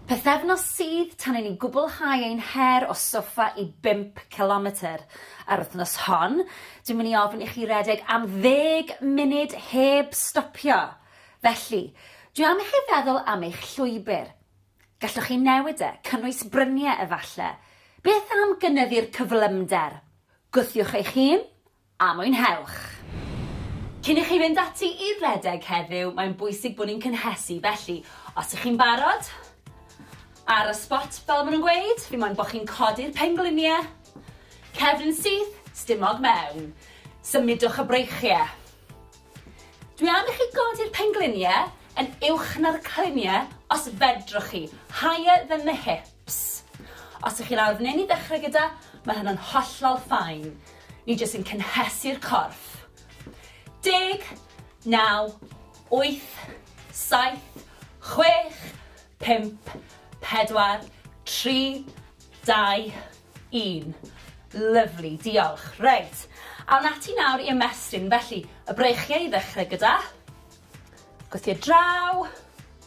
Pythefnos sydd tan i ni gwblhau ein her o soffa i bump cilometr. Ar wythnos hon, dwi'n mynd i ofyn i chi redeg am ddeg munud heb stopio. Felly, dwi am i chi feddwl am eich llwybr. Gallwch chi newid e, cynnwys bryniau efalle? Beth am gynyddu'r cyflymder? Gwthiwch eich hun, a mwynhewch! Cyn i chi fynd ati i redeg heddiw, mae'n bwysig bod ni'n cynhesu, felly os ych chi'n barod, ar y sbot fel maen nhw'n gweud, fi moyn bod chi'n codi'r pengliniau, cefn yn syth, stumog mewn, symudwch y breichiau. Dwi am i chi godi'r pengliniau yn uwch na'r cliniau os fedrwch chi, higher than the hip. Ps. Os ych chi'n arnyn i ddechrau gyda, mae hynna'n hollol fine. Ni jyst yn cynhesu'r corff. Deg, naw, wyth, saith, chwech, pump, pedwar, tri, dau, un. Lyfli, diolch. Reit, awn ati nawr i ymestyn. Felly, y breichiau i ddechrau gyda. Gwthio draw.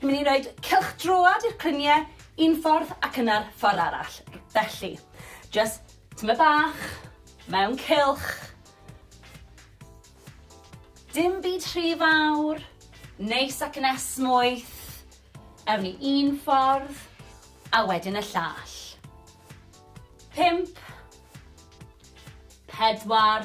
Ni'n mynd i roed cylch droad i'r crynie un ffordd ac yna'r ffordd arall. Felly, just tyma bach, mewn cylch. Dim byd rhy fawr, neis ac yn esmwyth. Ewn ni un ffordd, a wedyn y llall. Pimp. Pedwar.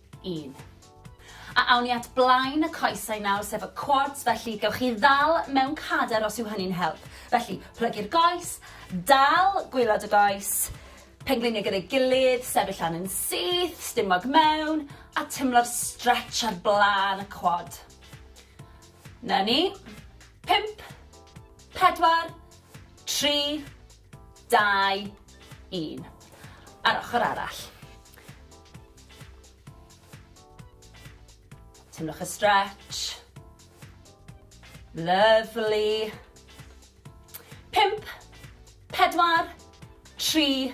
un. A awn ni at blaen y coesau nawr, sef y quads, felly gewch chi ddal mewn cader os yw hynny'n help. Felly, plygu'r goes, dal gwylod y goes, pengliniau gyda'i gilydd, sefyll lan yn syth, stumog mewn, a tymlo'r stretch ar blaen y quad. Na ni. 5, 4, 3, 2, 1. Ar ochr arall. Teimlwch y stretch. Lovely. Pimp, pedwar, tri,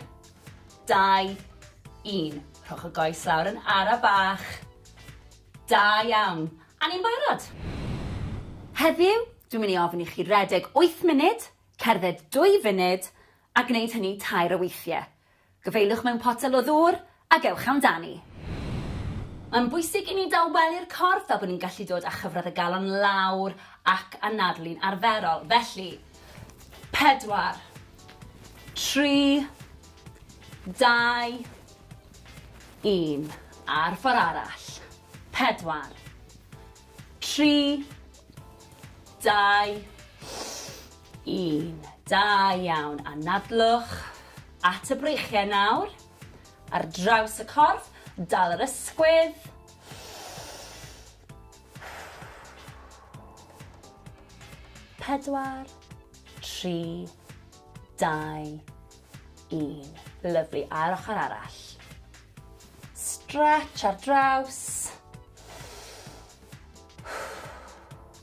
dau, un. Rhowch y goes lawr yn ara bach. Da iawn. A ni'n barod. Heddiw, dwi'n mynd i ofyn i chi redeg 8 munud, cerdded 2 funud, a gwneud hynny tair o weithiau. Gyfeiliwch mewn potel o ddŵr ac ewch amdani. Mae'n bwysig i ni dawelu'r corff a bod ni'n gallu dod â chyfradd y galon lawr ac anadlu'n arferol. Felly, pedwar, tri, dau, un. A'r ffordd arall. Pedwar, tri, dau, 1. Da iawn. Anadlwch at y breichiau nawr. Ar draws y corff, dal yr ysgwydd. Pedwar, tri, dau, un. Lyflu, a'r ochr arall. Stretch ar draws.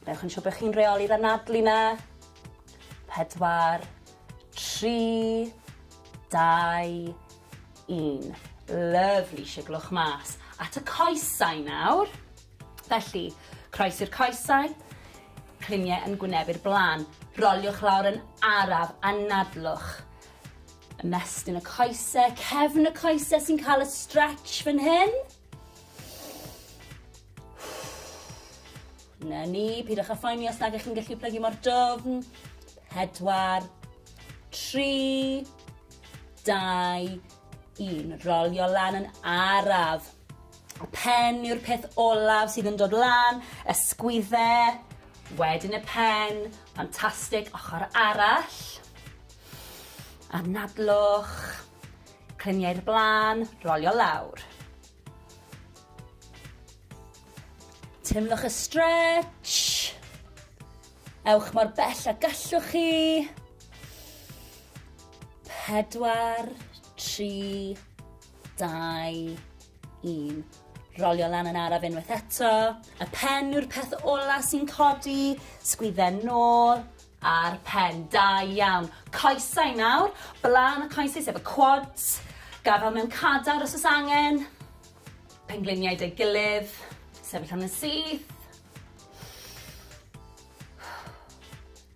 Newch yn siŵr bod chi'n reoli'r anadlu 'na. Pedwar, tri, dau, un. Lyfli, siglwch mas. At y coesau nawr. Felly, croes i'r coesau, cliniau yn gwyneb i'r blaen. Roliwch lawr yn araf, anadlwch. Ymestyn y coesau, cefn y coesau sy'n cael y stretch fan hyn. Na ni, pidwch â phoeni os nag ych chi'n gallu plygu mor dofn. Pedwar, tri, dau, un. Rolio lan yn araf. Y pen yw'r peth olaf sydd yn dod lan, y sgwydde, wedyn y pen, ffantastig, ochr arall. Anadlwch, Clymu i'r blaen, rolio lawr. Teimlwch y stretch. Ewch mor bell a gallwch chi. Pedwar, tri, dau, un. Rolio lan yn araf unwaith eto. Y pen yw'r peth ola sy'n codi. Sgwydden nôl. Ar pen, da iawn. Coesau nawr, blaen y coesau sef y quads, gafal mewn cadar os oes angen, pengliniau dy gilydd, sefyll am y syth.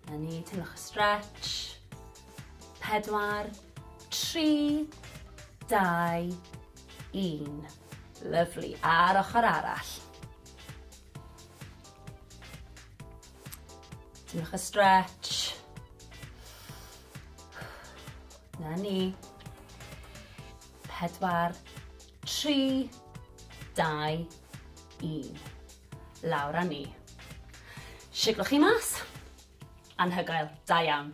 Na ni, teimlwch y stretch. Pedwar, tri, dau, un. Lyflu, a'r ochr arall. Diolch y stretch. Na ni. Pedwar, tri, dau, un. Lawr a ni. Siglwch chi mas. Anhygoel, da iawn.